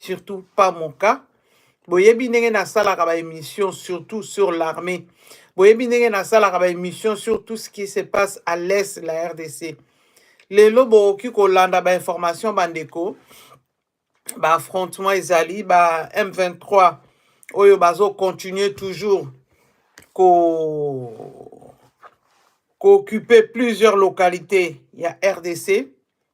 surtout pas mon cas boyebi ndenge nasalaka ba émission surtout sur l'armée boyebi ndenge nasalaka ba émission sur tout ce qui se passe à l'est la rdc lelo bokoki kolanda ba information bandeko ba affrontement ezali ba m23 oyo bazo continuer toujours ko kooccupe plusieurs localités ya rdc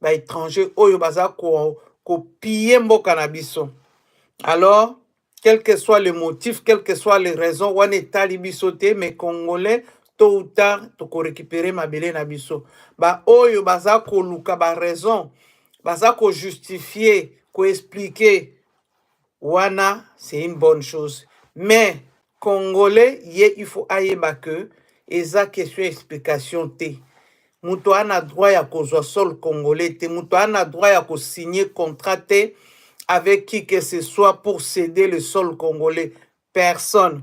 ba étranger oyo baza ko kopille mboka na biso alors quel que soit le motif quel que soit les raisons wana etali biso te mais congolais tôt ou tard tokorécupere mabele na biso baoyo baza koluka baraison baza kojustifie koexplike wana c'est une bonne chose mais congolais ye il faut ayeba que eza question ya explication te moto ana droit ya kozwa sol congolais te moto ana droit ya kosigne contrat te avec qui que ce soit pour ceder le sol congolais personne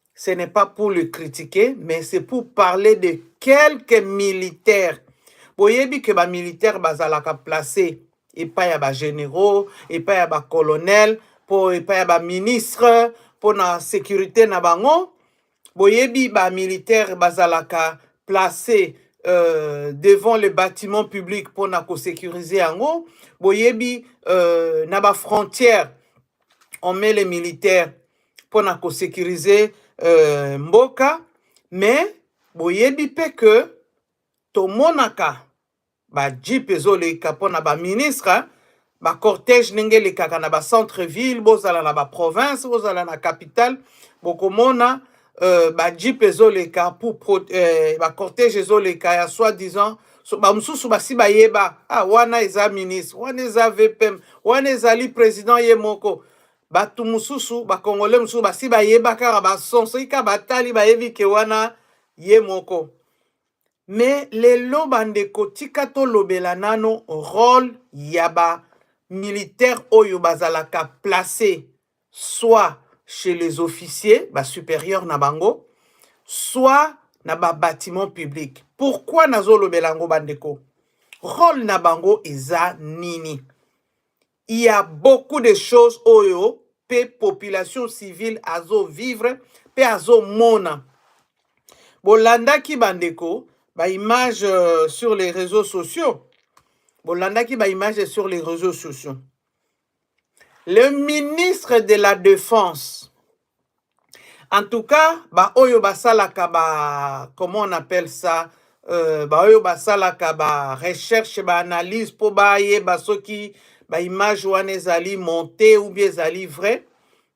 Ce n'est pas pour le critiquer, mais c'est pour parler de quelques militaires. Boyebi que ba militaires bazalaka placés epai ya ba généraux, epai ya ba colonels, po epai ya ba ministres, po na sécurité na bango. Boyebi ba militaires bazalaka placés euh, devant le bâtiment public pour na sécuriser yango. Boyebi euh, na ba frontières on met les militaires pour na ko sécuriser euh, mboka mais boyebi pe que tomonaka ba jeep ezoleka pona ba ministre hein. ba cortège ndenge elekaka na ba centre ville bozala na ba province bozala na capitale bokomona euh, ba jeep ezoleka pour pro, euh, ba cortège ezoleka ya soi disant so bamosusu basi bayeba ah, wana eza ministre wana eza vpm wana ezali president ye moko bato mosusu bakongole mosusu basi bayeba kaka bason soki kaka batali bayebi ke wana ye moko me lelo bandeko tika tolobela nano role ya ba militaire oyo bazalaka place soit chez les officiers, ba supérieurs na bango, soit na ba bâtiments publics. Pourquoi nazo lobela yango bandeko? Rôle na bango eza nini? Il y a beaucoup de choses oyo pe population civile azo vivre pe azo mona. Bolandaki bandeko ba images euh, sur les réseaux sociaux. Bolandaki ba images sur les réseaux sociaux. le ministre de la defense en tout cas baoyo basalaka ba comment on appelle ça euh, baoyo basalaka ba recherche ba analyse mpo bayeba soki ba image wana ezali monte ou bien ezali vrai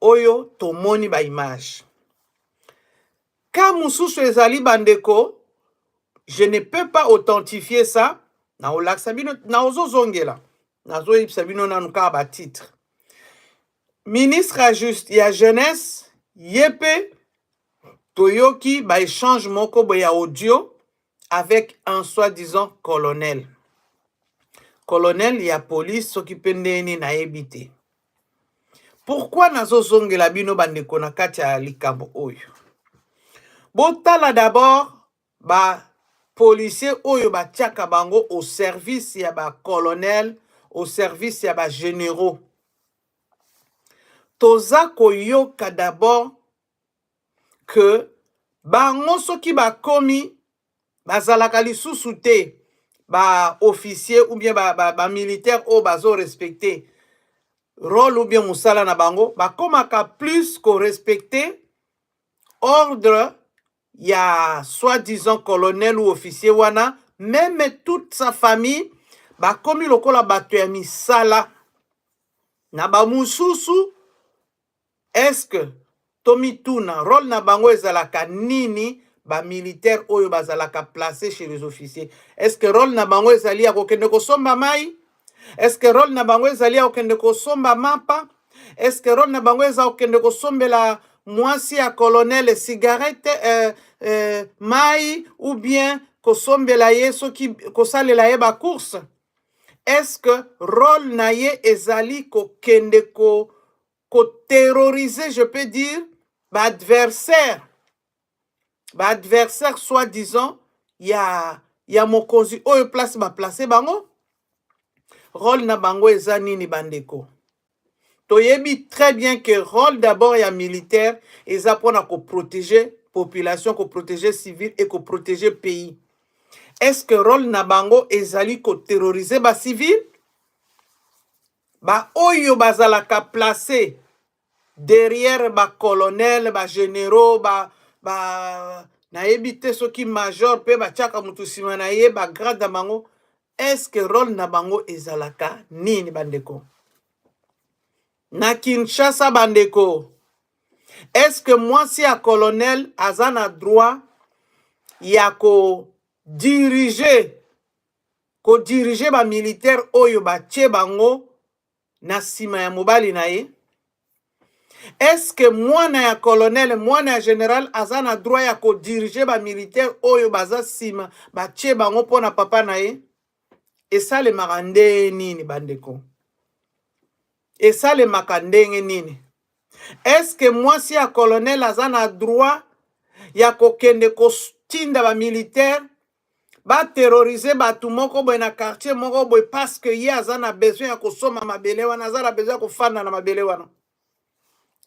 oyo tomoni ba image ka mususu ezali bandeko je ne peux pas authentifier ça na olakisa bino na ozozongela nazoyebisa bino nanu kaka ba titre ministre ya juste ya jeunesse ye mpe toyoki ba échange moko boye ya audio avec un soi-disant colonel colonel ya police soki mpe ndenge nini nayebi te pourkui nazozongela bino bandeko na kati ya likambo oyo botala dabord bapolisier oyo batiaka bango au service ya bacolonel au service ya bagénéraux toza koyoka dabord que bango soki bakomi bazalaka lisusu te ba officier ou bien ba, ba, ba militaire oyo bazo respecte role ou bien mosala na bango bakomaka plus korespecte ordre ya soi-disant colonel ou officier wana meme toute sa famille bakomi lokola bato ya misala na bamosusu Est-ce que tomituna role na bango ezalaka nini ba militaires oyo bazalaka placer chez les officiers? Est-ce que role na bango ezali ya kokende kosomba mai? Est-ce que role na bango ezali ya kokende kosomba mapa? Est-ce que role na bango eza kokende kosombela mwasi ya colonel cigarette euh, euh, mai ou bien kosombela ye soki kosalela ye ba course? Est-ce role na ye ezali kokende ko ko terroriser je peux dire ba adversaire ba adversaire soit disant ya ya mokonzi oyo place ba place bango role na bango eza nini bandeko toyebi très bien que role d'abord ya militaire eza pona ko proteger population ko proteger civil et ko proteger pays est ce que role na bango ezali ko terroriser ba civil ba oyo bazalaka placer derrière ba colonel ba généraux ba ba nayebi te soki major pe batiaka mutu nsima na ye ba grade na bango Est ce que role na bango ezalaka nini bandeko? Na Kinshasa bandeko, est ce que mwasi ya colonel aza na droit ya ko diriger ko diriger ba militaire oyo batie bango na nsima ya mobali na ye eske mwana ya colonel mwana ya general aza na droit ya kodirige bamilitaire oyo baza nsima batie bango mpo na papa na ye esalemaka ndenge nini bandeko esalemaka ndenge nini eske mwasi ya colonel aza na droit ya kokende kotinda bamilitaire ba terroriser bato moko boye na quartier moko boye parce que ye aza na besoin ya kosomba mabele wana aza na besoin ya kofanda na mabele wana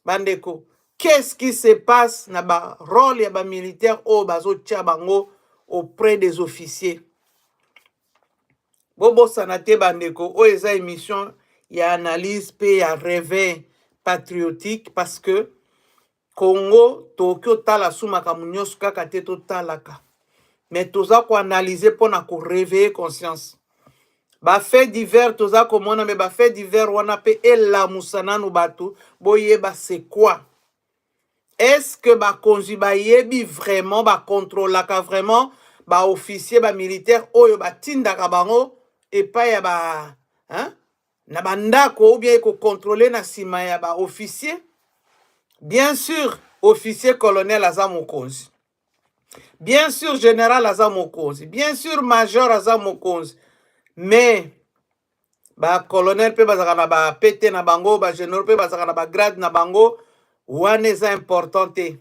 bandeko qu'est-ce qui se passe na ba role ya ba militaire oyo bazotia bango auprès des officiers bobosana te bandeko oyo eza émission ya analyse mpe ya réveil patriotique parce que Congo tokoki otala su makambo nyonso kaka te totalaka me toza koanalyse mpo na koreveille conscience bafait divers toza komona me bafait divers wana mpe elamusa nanu bato boyeba c'est quoi est-ce que bakonzi bayebi vraiment bakontrolaka vraiment baofficier bamilitaire oyo batindaka bango epai ya ba hein? na bandako ou bien ekocontrole na nsima ya ba officier bien sûr officier colonel aza mokonzi bien sûr general aza mokonzi bien sûr major aza mokonzi mais bacolonel mpe bazalaka na bapete na bango bageneraux mpe bazalaka na bagrade na bango wana eza important te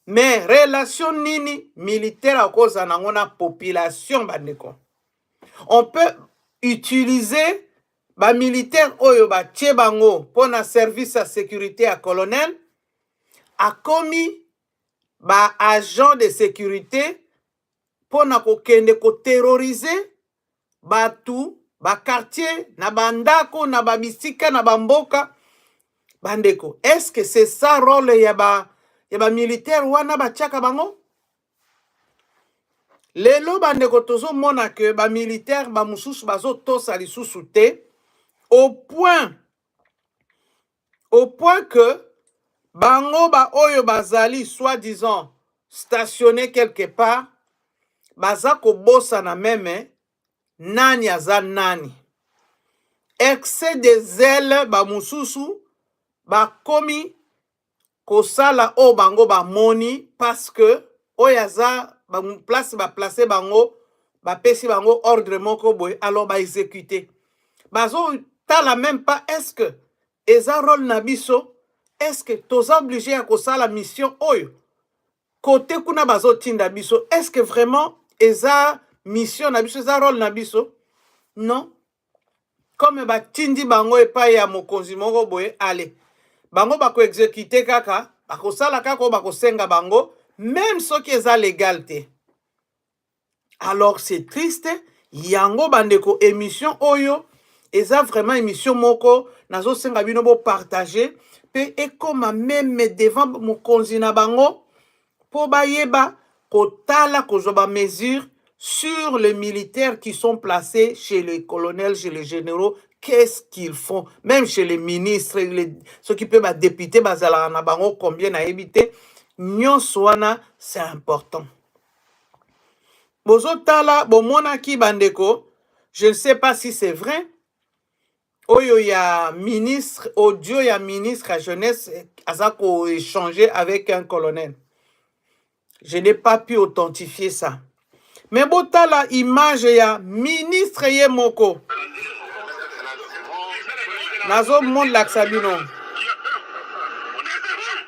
mais relation nini militaire akozala nango na population bandeko on peut utiliser ba militaire oyo batie bango mpo na service ya securite ya colonel akomi ba agent de securite mpo na kokende koterrorize bato bakartier na bandako na babisika na bamboka bandeko estce que c'est ça role ya ba ya bamilitaire wana batiaka bango lelo bandeko tozomona ke bamilitaire bamosusu bazotosa lisusu te au point au point que bango baoyo bazali soi-disant stationne quelque part baza kobosana meme nani aza nani excès des ailes bamosusu bakomi kosala oyo bango bamoni parce que oyo aza ba- place ba place bango bapesi bango ordre moko boye alors ba exécuter bazotala même pas est ce que eza role na biso est ce que toza oblige ya kosala mission oyo kote kuna bazotinda biso est ce que vraiment eza mission na biso eza role na biso non comme batindi bango epai ya mokonzi moko boye ale bango bakoexekite kaka bakosala kaka oyo bakosenga bango meme soki eza legal te alors c'est triste yango bandeko émission oyo eza vraiment émission moko nazosenga bino bopartage mpe ekoma meme devant mokonzi na bango mpo bayeba kotala kozwa ba mesures sur les militaires qui sont placés chez les colonels, chez les généraux, qu'est-ce qu'ils font Même chez les ministres, les, ceux qui peuvent députés, bazala na bango combien na évité. Nyonso wana c'est important. Bozotala bomonaki bandeko, je ne sais pas si c'est vrai. oyo ya ministre audio ya ministre ya jeunesse eh, aza koéchange avec un colonel je n'ai pas pu authentifier ça mais botala image ya ministre ye moko nazomolakisa bino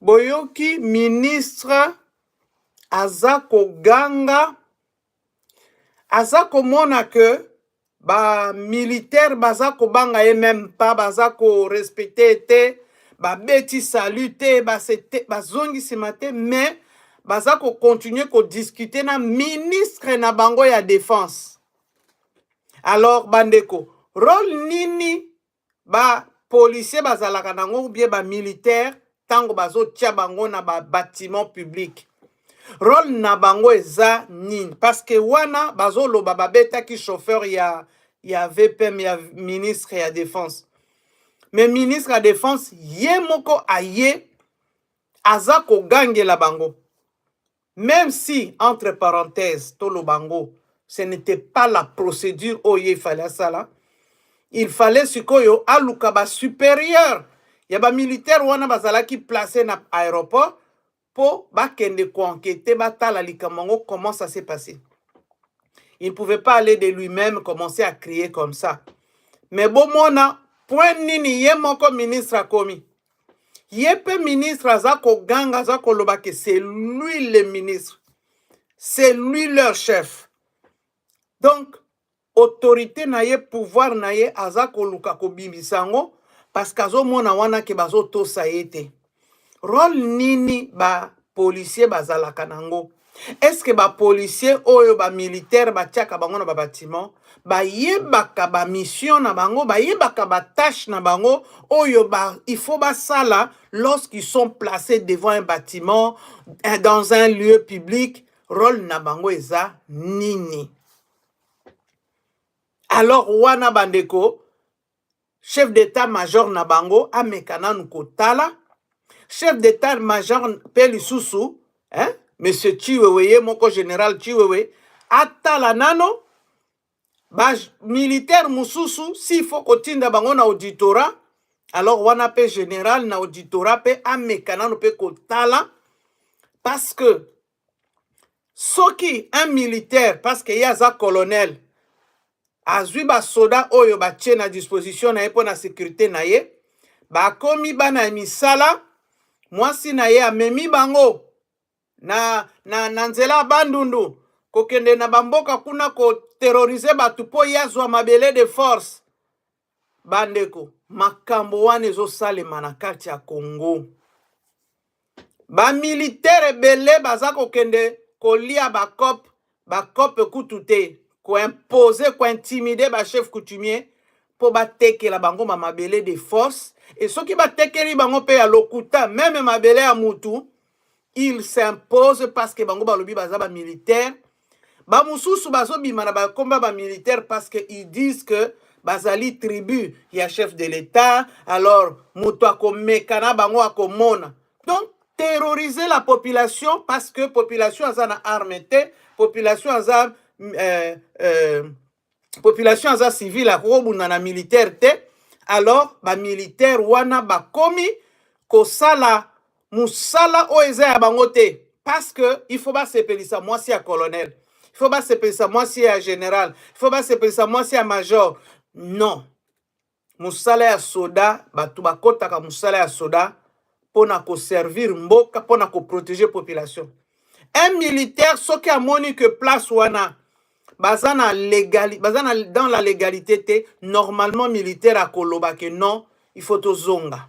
boyoki ministre aza koganga aza komona ke ba militaire baza kobanga ye meme pas baza korespecte te babeti salut te bazongi nsima te mais baza kocontinue kodiscute na ministre na bango ya defense alors bandeko role nini ba policier bazalaka nango ou bien ba militaire tango bazotia bango na ba bâtiment public role na bango eza nini parce que wana bazoloba babetaki chauffeur ya ya vpm ya ministre ya défense mais ministre ya défense ye moko aye aza kogangela bango Meme si entre parenthèses toloba ngo ce n'était pas la procédure oyo ye il fallait asala il fallait sikoyo aluka ba supérieur ya ba militaire wana bazalaki place na aéroport mpo bakende koankete batala likambo yango comment ça s'est passé il pouvait pas aller de lui-même commencer à crier comme ça mais bomona point nini ye moko ministre akomi ye mpe ministre aza koganga aza koloba ke c'est lui le ministre c'est lui leur chef donc autorité na ye pouvoir na ye aza koluka kobimisa yango parce que azomona wana ke bazotosa ye te role nini ba policier bazalaka nango est ce que ba policier oyo ba militaire batiaka bango na ba bâtiment bayebaka ba mission na bango bayebaka ba tâche na bango oyo ba il faut basala lorsqu'ils sont placés devant un bâtiment eh, dans un lieu public role na bango eza nini alors wana bandeko chef d'etat major na bango ameka nanu kotala chef d'etat major mpe lisusu eh, monsieur chiwewe ye moko general chiwewe atala nano bamilitaire mosusu s'il faut kotinda bango na auditorat alors wana mpe général na auditorat mpe ameka nano mpe kotala parce que soki un militaire parce que ye aza colonel azwi basoda oyo batie na disposition na ye mpo na securite na ye bakomi bana ya misala mwasi na ye amemi bango na, na, na nzela ya bandundu kokende na bamboka kuna koterrorize bato mpo ye azwa mabele de force Bandeko, makambo wana ezosalema na kati ya Congo. Bamilitere ebele baza kokende kolia bakope bakope kutu te koimpose kointimide bachef coutumier mpo batekela bango mamabele de force e soki batekeli bango mpe ya lokuta meme mabele ya mutu il s'impose parce que bango balobi baza ba militaire ba mususu bazobima na bakomba ba militaire parce que ils disent que bazali tribu ya chef de l'etat alors moto akomeka na bango akomona donc terroriser la population parce que population aza na arme te population aza euh, euh, population aza civile akoki kobunda na militaire te alors bamilitaire wana bakomi kosala mosala oyo eza ya bango te parce que il faut basepelisa mwasi ya colonel il faut basepelisa mwasi ya général il faut basepelisa mwasi ya major non mosala ya soda bato bakotaka mosala ya soda mpo na koservir mboka mpo na koprotege population un militaire soki amoni que place wana baza na legali baza na dans la légalité te normalement militaire akoloba que non il faut tozonga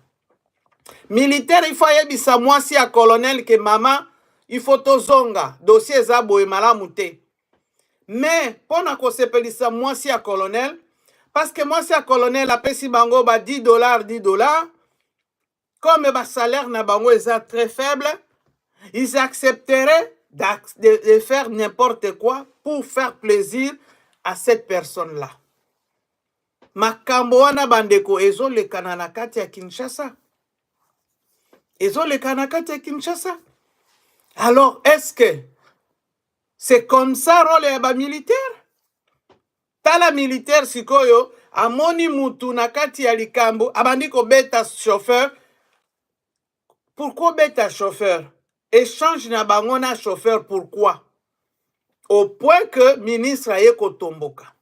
militaire il faut ayebisa mwasi ya colonel ke mama il faut tozonga dossier eza boye malamu te mais mpo na kosepelisa mwasi ya colonel parceke mwasi ya colonel apesi bango ba 10 dollar 10 dollar comme basalaire na bango eza très faible ils accepteraient d'ac- de, de faire n'importe quoi pour faire plaisir à cette personne là makambo wana bandeko ezolekana na kati ya kinshasa ezolekana na kati ya kinshasa alors est ce que C'est comme ça role ya ba militaire. Tala militaire sikoyo amoni mutu na kati ya likambo abandi kobeta chauffeur. Pourquoi beta chauffeur? Échange na bango na chauffeur pourquoi? Au point que ministre aye kotomboka.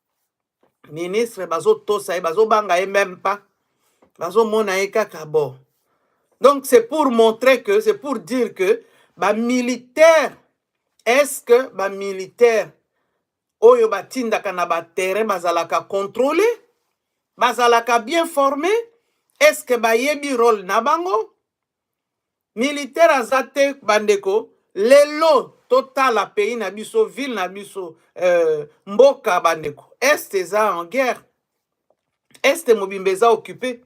Ministre bazotosa ye, bazobanga ye même pas. Bazomona ye kaka bo. Donc c'est pour montrer que, c'est pour dire que ba militaires Est-ce que ba militaires oyo batindaka na ba terrain bazalaka controle bazalaka bien forme est-ce que bayebi role na bango militaire aza te bandeko lelo totala pays na biso ville na biso euh, mboka bandeko est eza en guerre est mobimba eza occupe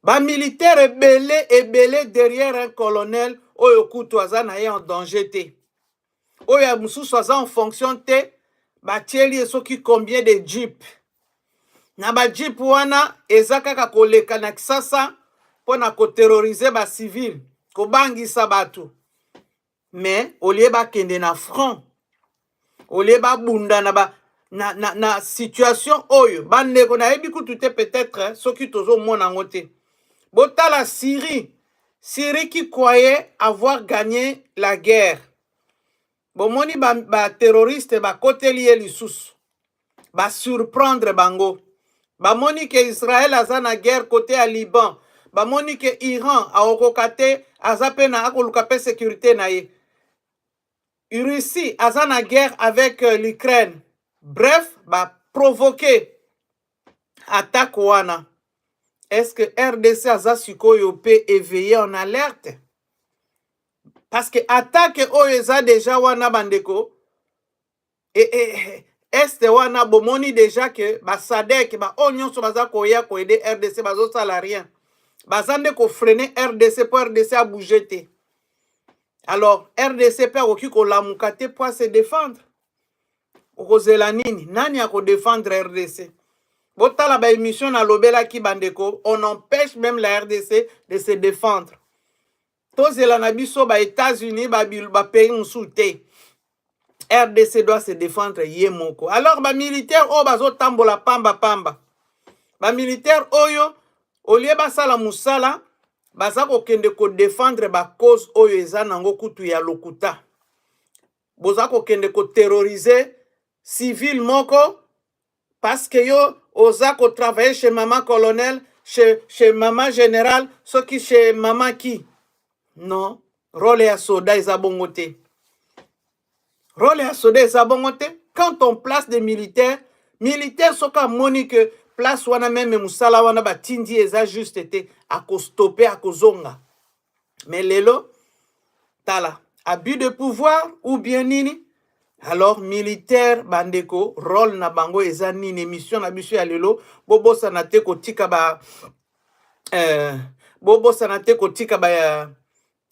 ba militaire ebele ebele derrière un colonel oyo kutu aza na ye en danger te oyo ya mosusu aza en fonction te batieli ye soki combien de jeep na ba jeep wana eza kaka koleka na kisasa mpo na koterrorize bacivile kobangisa bato mais au lieu bakende na front au lieu babunda na ba na, na, na situation oyo bandeko nayebi kutu te peut-être hein, soki tozomona yango te botala syrie syrie qui croyait avoir gagné la guerre bomoni baterroriste ba bakoteli ye lisusu basurprendre bango bamoni ke israel aza na guerre kote ya liban bamoni ke iran akokoka te aza mpe na akoluka mpe securite na ye russie aza na guerre avec euh, l'ukraine bref baprovoke attaque wana est ce que rdc aza sikoyo mpe éveillé en alerte parce que attaque oyo eza deja wana bandeko e, e, e, este wana bomoni deja ke basadek baoyo nyonso baza koya koede rdc bazosala rien baza nde kofrene rdc mpo rdc abouge te alors rdc mpe akoki kolamuka te mpo ase defendre okozela nini nani akodefendre rdc botala baémission nalobelaki bandeko on empêche même la rdc de se défendre tozela na biso ba etats unis bapays mosusu te rdc doit se défendre ye moko alors bamilitaire oyo bazotambola pamba pamba bamilitaire oyo olie basala mosala baza kokende kodefendre bacause oyo eza nango kutu ya lokuta boza kokende koterrorize civile moko Parce que yo oza ko travailler chez maman colonel, chez, chez maman général, soki chez maman qui? Non. Role ya soda eza bongo te. Role ya soda eza bongo te. Quand on place des militaires, militaire soki amoni que place wana meme mosala wana batindi eza juste te, akostopper, akozonga. mais lelo tala abus de pouvoir ou bien nini alors militaire bandeko role na bango eza nini émission na biso ya lelo bobosana te kotika ba euh, bobosana te kotika ba euh,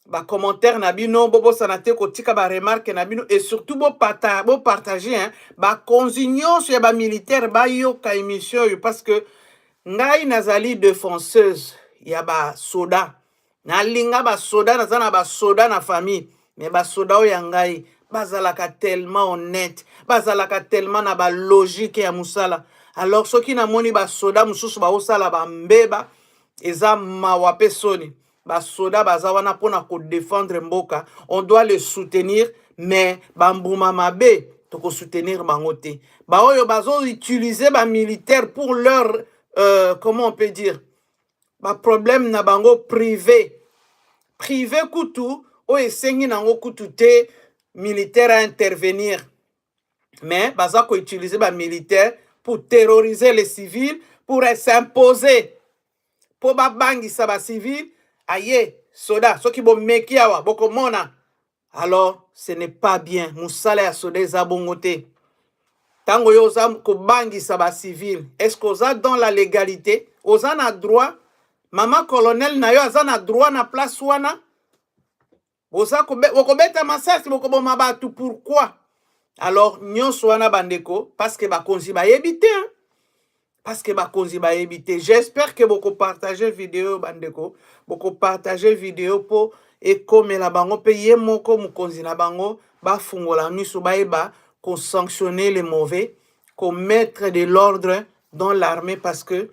bacommentaire na bino bobosana te kotika baremarke na bino et surtout bopartage hein, bakonzi nyonso ya bamilitaire bayoka émission oyo parce que Ngai nazali defenseuse ya ba soda. Nalinga ba soda, naza na ba soda na famille. Mais ba soda oyo ya ngai bazalaka tellement honnête, bazalaka tellement na ba logique ya musala. Alors soki namoni ba soda mususu baosala ba mbeba, eza mawa pe soni. basoda baza wana mpo na kodefendre mboka on doit le soutenir mais bambuma mabe tokosoutenir bango te baoyo bazoutilize bamilitaire pour leur euh, comment on peut dire baproblème na bango privé privé kutu oyo esengi nango kutu te militaire a intervenir mais baza koutilize bamilitaire pour terroriser les civils pour s'imposer mpo babangisa bacivile aye soda soki bomeki awa bokomona alors ce n'est pas bien mosala ya soda eza bongo te ntango yo oza kobangisa bacivile est ce que oza dans la légalité oza na droit mama colonel na yo aza na droit na place wana boza bokobeta masasi bokoboma bato pourquoi alors nyonso wana bandeko parceke bakonzi bayebi te parceke bakonzi bayebi te j'espère ke bokopartage video bandeko bokopartage video mpo ekomela bango mpe ye moko mokonzi na bango bafungola miso bayeba kosanctionner le mauvais komettre de l'ordre dans l'armée parce que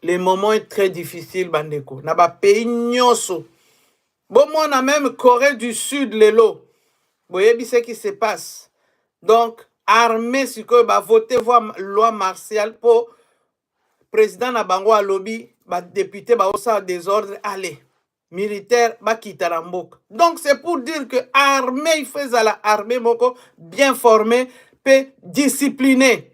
le moment est très difficile bandeko na bapays nyonso bomona meme corée du sud lelo boyebi ce qui se passe donc armée sikoyo bavote voi loi martiale mpo président na bango alobi badepute baosala desordre allez militaire bakita na mboka donc c'est pour dire que armée il faut ezala armée moko bien formée mpe disciplinée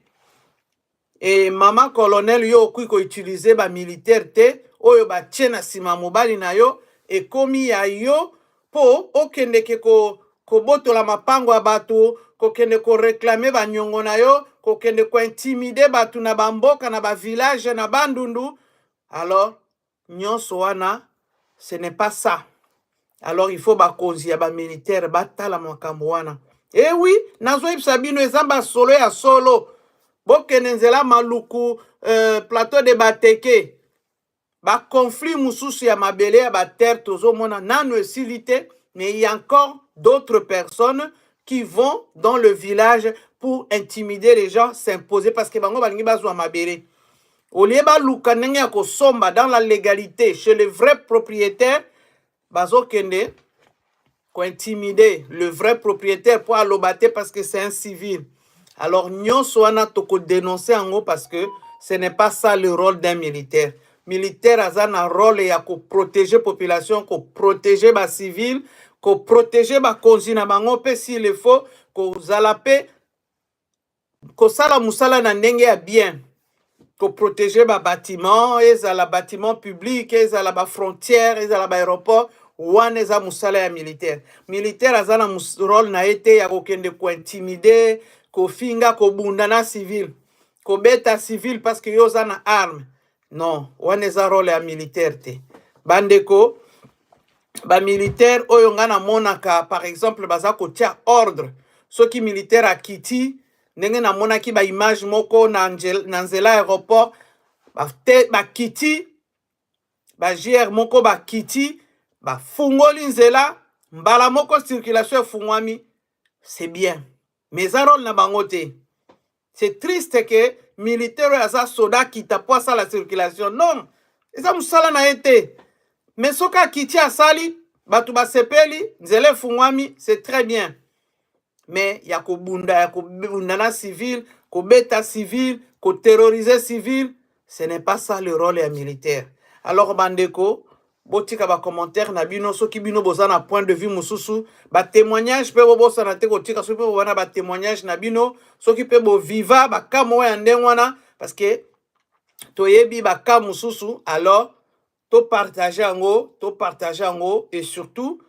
Et maman colonel yo okoki ko utiliser ba militaire te oyo ba tie na sima mobali na yo ekomi ya yo po okendeke ko kobotola mapango ya bato kokende ko reclamer ba nyongo na yo kokende ko intimider bato na ba mboka na ba village na bandundu alors Nionso wana ce n'est pas ça. Alors il faut bakonzi ya ba militaire batala makambo wana. Eh oui, nazoyebisa bino eza masolo ya solo. Bokende nzela maluku euh, plateau de bateke baconflit mosusu ya mabele ya baterre tozomona nano esili te mais il y a encore d'autres personnes qui vont dans le village pour intimider les gens s'imposer parce que bango balingi bazwa mabele au lieu baluka ndenge ya kosomba dans la légalité chez le vrai propriétaire bazokende kointimide le vrai propriétaire mpo aloba te parce que c'est un civil alors nyonso wana tokodenonse yango parce que ce n'est pas ça le rôle d'un militaire militaire aza na rôle ya koprotege population koprotege bacivile koprotege bakonzi na bango mpe s'il le faut kozala mpe kosala musala na ndenge ya bien koprotege babatiment ezala batiment public ezala bafrontière ezala baaéroport wana eza mosala ya militaire militaire aza na mos- role na ye te ya kokende kointimide kofinga kobunda na civil kobeta civil parce que yo oza na arme non wana eza role ya militaire te bandeko bamilitaire oyo ngai namonaka par exemple baza kotya ordre soki militaire akiti ndenge namonaki baimage moko na, angel, na nzela aéroport bakiti bajr moko bakiti bafungoli nzela mbala moko circulation efungwami c'est bien mais eza role na bango te C'est triste que militaire oyo aza soda akita mpo asala circulation. Non, eza mosala na ye te. Mais soki akiti asali, bato basepeli, nzela efungwami, c'est très bien. Mais ya kobunda, ya kobunda na civil, kobeta civil, koterroriser civil, ce n'est pas ça le rôle ya militaire alors bandeko botika bacommentaire na bino soki bino boza na point de vue mosusu batémoignage mpe bobosana te kotika soki mpe bowana batémoignage na bino soki mpe boviva baka moko ya ndenge wana parce que toyebi baka mosusu alors topartage yango topartage yango et surtout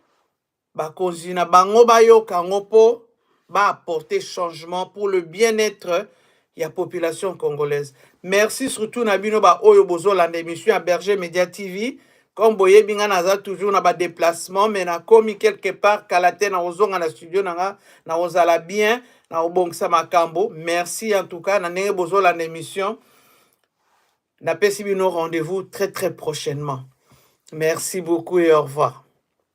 Bakonzi na bango bayoka yango mpo ba apporter changement pour le bien-etre ya population congolaise. Merci surtout na bino ba oyo bozolanda emission ya Berger Media TV. Comme boyebi nga naza toujours na ba déplacement mais nakomi quelque part kala te na kozonga na studio na nga na kozala bien na kobongisa makambo. Merci en tout cas na ndenge bozolanda emission. Napesi bino rendez-vous très très prochainement. Merci beaucoup et au revoir.